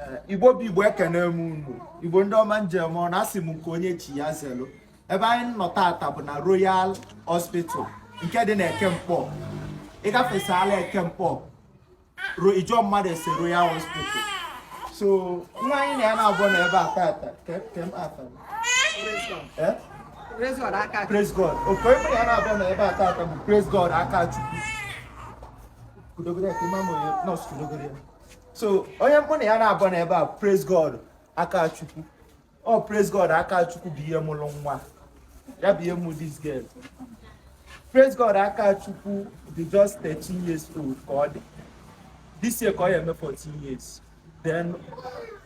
Eh, igbo bụ igbo ekene m unu igbo ndị ọma njem ọ na-asị m nke onye chi ya zelu ebe anyị nọ tata bụ na royal hospital nke dị na Eke Nkpọ ị gafesala Eke Nkpọ ị jụọ mmadụ ese royal hospital so nwa anyị na ya naabọ nọ ebe a tata eh? praise god okay onye mụ na ya naabọ nọ ebe a tata bụ praise god Akachukwu so onye mụ na ya naabọ nọ ebe a praise god Akachukwu ọ oh, praise god Akachukwu bụ ihe mụrụ nwa ya bụ ihe mụ this girl praise god Akachukwu dị just 13 years old ka ọ dị this year ka ọ ya eme 14 years then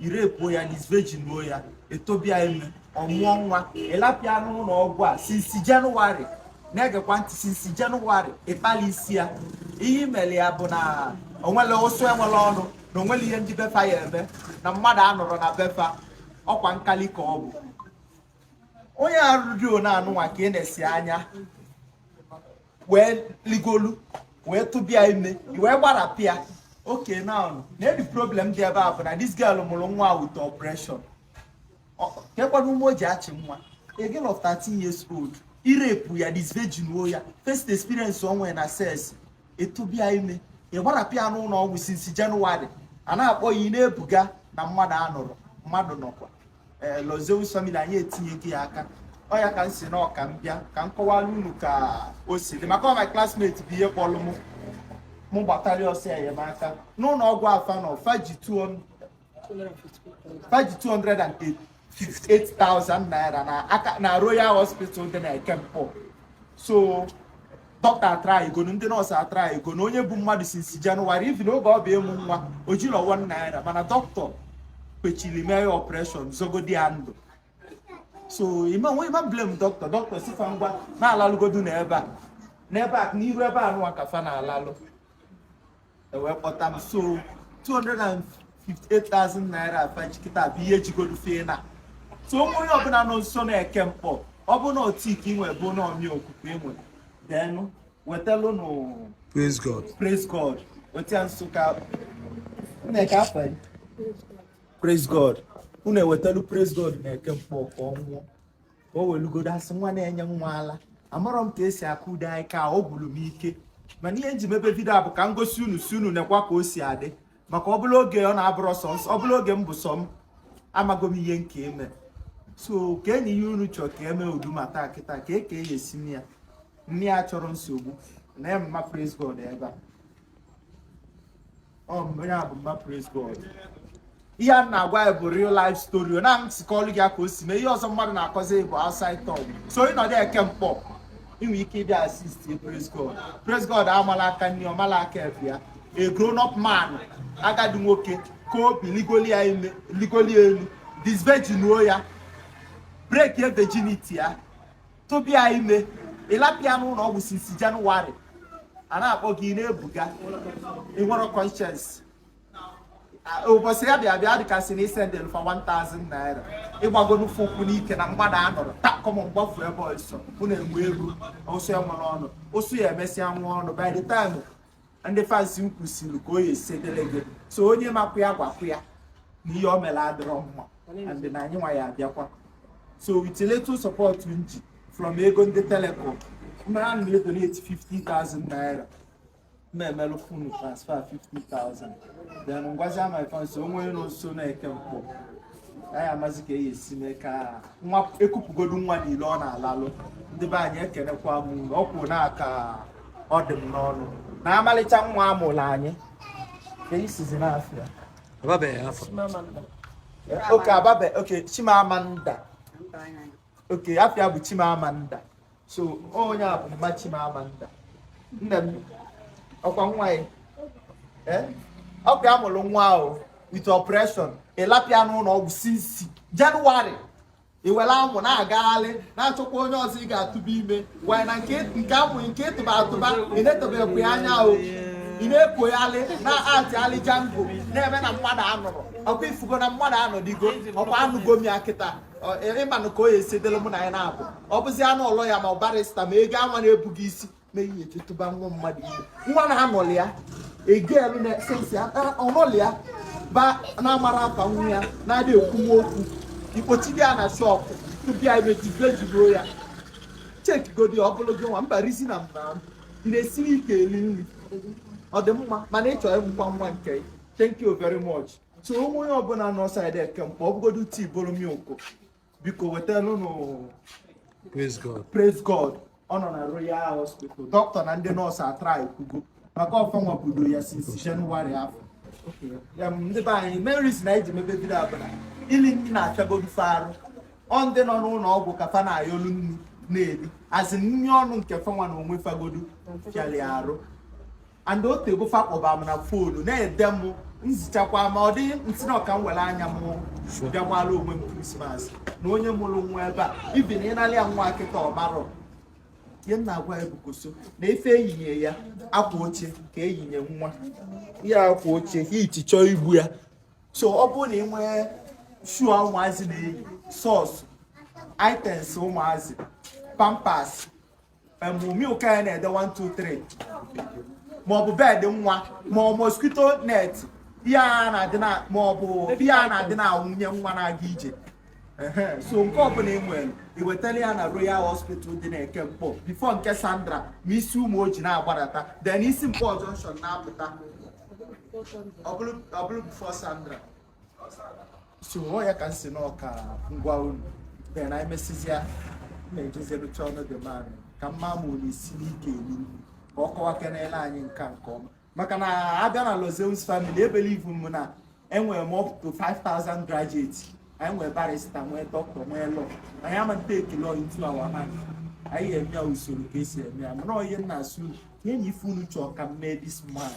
i rape-uo ya disvirginuo ya i tụbe ya ime ọ mụọ nwa ị lapụ ya n'ụlọ ọgwụ a since January na-egekwa ntị since January ị kpali isi ya ihe i mere ya bụ na o nwere ụsụ enwere ọnụ na o nwere ihe ndị be fa ya eme na mmadụ anọrọ na be fa ọkwa nkali ka ọ bụ onye arụ dị one anụnwa ka ị nesi anya wee ligolu wee tụbe ya ime wee gbarapụ ya okay now the problem dị ebe a bụ na this girl mụrụ nwa with operation kekwanụ ume o ji achị nwa a girl of 13 years old i rape-uo ya disvirginuo ya first experience o nwere na sex i tụbe ya ime ị gbarapụ ya n'ụlọ ọgwụ since January a na-akpọ gị ị na-ebuga na mmadụ anọrọ mmadụ nọkwa ee eh, Lozeus family anyị etinyego ya aka ọ ya ka m sị na ọ ka m bịa ka m kọwara unu ka o si dị maka my classmate bụ ihe kpọrọ m mụ gbatara ọsọ enyemaka n'ụlọ ọgwụ a fa nọ fa ji 258,000 naira na Royal Hospital dị na Eke Nkpọ so doctor atrygonu ndị nọọsụ atrygonu onye bụ mmadụ since January even oge ọ bụ ịmụ nwa o jirọ one naira mana doctor kwechiri mee ya operation zọgodi ya ndụ so ị ma nwe ị ma blame doctor doctor sị fa ngwa na-alalụgodu n'ebe a n'ebe a n'iru ebe a nụwa ka fa na-alalụ e wee kpọta m so 258,000 naira a fa ji kịta bụ ihe jigodo fa ịna so onye ọbụla nọ nso na Eke Nkpọ ọ bụ na ọ tea ka i nwe bụ na ọ mmiri ọkụ ka i nwe then wetalụnụ praise god praise god wetia nso ka nneka afa praise god unu ewetalu praise god na Eke Nkpọ ka ọ ṅụọ ka o welugodo asị nwa na-enye nwa ala amarọ m ka esi akọdị ya ka ọ gwụrụ m ike mana ihe m ji mebe vidio a bụ ka m gosi unu sị unu nekwa ka o si adị maka ọ bụla oge ọ na-abụrọ sọ ọ bụla oge m bụ sọ m amago m ihe m ka eme so keenụ ihe unu chọrọ ka e mee ụdị matter a kịta kee ka a ya esi mee ya mụ achọrọ nsogbu na ya mma praise God ebe a onye a bụ mma Praise God ihe a na-agwa ya bụ real life story na m si kọọlụ gị ka o si mee ihe ọzọ mmadụ na-akọzi bụ outside talk so ị nọdụ Eke Nkpọ i nwe ike ịbịa assist praise God praise God amala aka nri ọmala aka ekpe ya a grown up man agadi nwoke ka obi ligoli ya ime ligoli elu disvejinuo ya breakie virginity ya tụba ya ime ị lapụ ya n'ụlọ ọgwụ since January a na-akpọ gị na-ebuga ị nwere conscience ụbọchị ya bịa bịa dịka sị na i sendelu fa 1000 naira ịgbago n'ụfọ ụkwụ n'ike na mgbada anụrụ takọm gbafu ebe ọsọ bụ na-enwe ego ụsụ ya nwere ọnụ ụsụ ya emesịa nwa ọnụ by the time ndị fans m kwusiri ka o ya esi dịlị gị so onye makwa ya gwakwa ya na ihe o mere adịrọ mma and na anyị nwa ya abịakwa so with little support m ji from ego ndị telecom mara na edonate 50,000 naira m ma emelụ unu transfer 50,000 then m gwazi my fans o nwee nọ nso na Eke Nkpọ anyị amazi ka e ya esi mee ka nwa ekupụgodu nwa niile ọ na-alalụ ndị be anyị ekenekwa m unu ọ kwụ na aka ọ dị m n'ọnụ na amalịcha nwa amụrụ anyị ka ị sịzi na afa ya baby o baby o Chimamanda okay afa ya bụ Chimamanda so onye a bụ mma Chimamanda nne m ọkwa nwa ya eh? ọkwa ya mụrụ nwa ahụ with operation ị lapụ ya n'ụlọ ọgwụ since January i were amụ na-agagharị na-achọkwa onye ọzọ ị ga-atụba ime wee na nke amụ nke ị tụba atụba ị na-etobekwu ya anya ahụ ị na-ekogharị na-atịgharị jango na-eme na mmadụ anọrọ ọkwa i fụgo na mmadụ anọdịgo ọkwa anụgo m ya kịta ị manụ ka o ya esi dịrị mụ na ya naabọ ọ bụzi anụ ọlọ ya ma ọ barịsta ma ego anwa na-ebughị isi ma ihe e tụba nwa mmadụ ime nwa na anọlị ya egelu na sense ọnọlị ya ba na-amara afa nwa ya na-adị ekwuwa okwu i kpochido ya na shọpụ tụba ya ime jide jiburu ya chekigodi ọ bụrụ gị nwa mba rizi na mba ị na-esiri ike eri nri ọ dị mma mana ị chọrọ ịmụkwa nwa nke thank you very much so o nwee onye ọbụla nọ side Eke Nkpọ ọ bụgodu tea bụrụ milk biko wetalụ nụ praise god praise god ọ nọ na Royal Hospital dọkịta na ndị nọọsụ atraịkwugo maka ọ fanwa budo ya since January afọ ndị be anyị medicine e ji mebe bido abụla ili nni na-afịagodu fa arụ ọ ndị nọ n'ụlọ ọgwụ ka fa na-ayọlu nni na-eri azị nri ọnụ nke fanwa na onwe fagodu fịalị arụ and o tego fa kpọba m na foonu na-ede m nzichakwa ma ọ dị m sị na ọ ka m were anya m bịakwala onwe m krismas na onye mụrụ nwa ebe a ibi na ịnalị ya nwa kịta ọ marọ ihe m na-agwa ya because na ife eyinye ya akwa oche ka eyinye nwa ya akwa oche heat chọọ igbu ya so ọ bụrụ na ị nwee shoe ụmụazị na-eyi socks items ụmụazị pampers milk anyị na-ede 1 2 3 maọbụ bed nwa ma ọ mosquito net ihe a na-adị na maọbụ ihe a na-adị na nwunye nwa na-aga ije so nke ọbụla ị nwere i wetara ya na royal hospital dị na eke nkpor before nke sandra ma i si umuoji na-agbadata then i si nkpor junction na-apụta ọ bụrụ before sandra so ọ ya ka m sị na ọ ka m gwa unu then emesizia na-ejezerucha ọnụ dị mmadụ ka mma ma unu isi n'ike elu ka ọ kọwa kenele anyị nke ọma maka na abịa na Lozeus family ebelieve m na enwere m up to 5000 graduates anyị nwere barista nwee dọkịta nwee lọya anyị ama take law into our hand anyị eme ya usoro ka esi eme ya mana onye nna asụ ka enyi ife unu chọọ ka m mee this month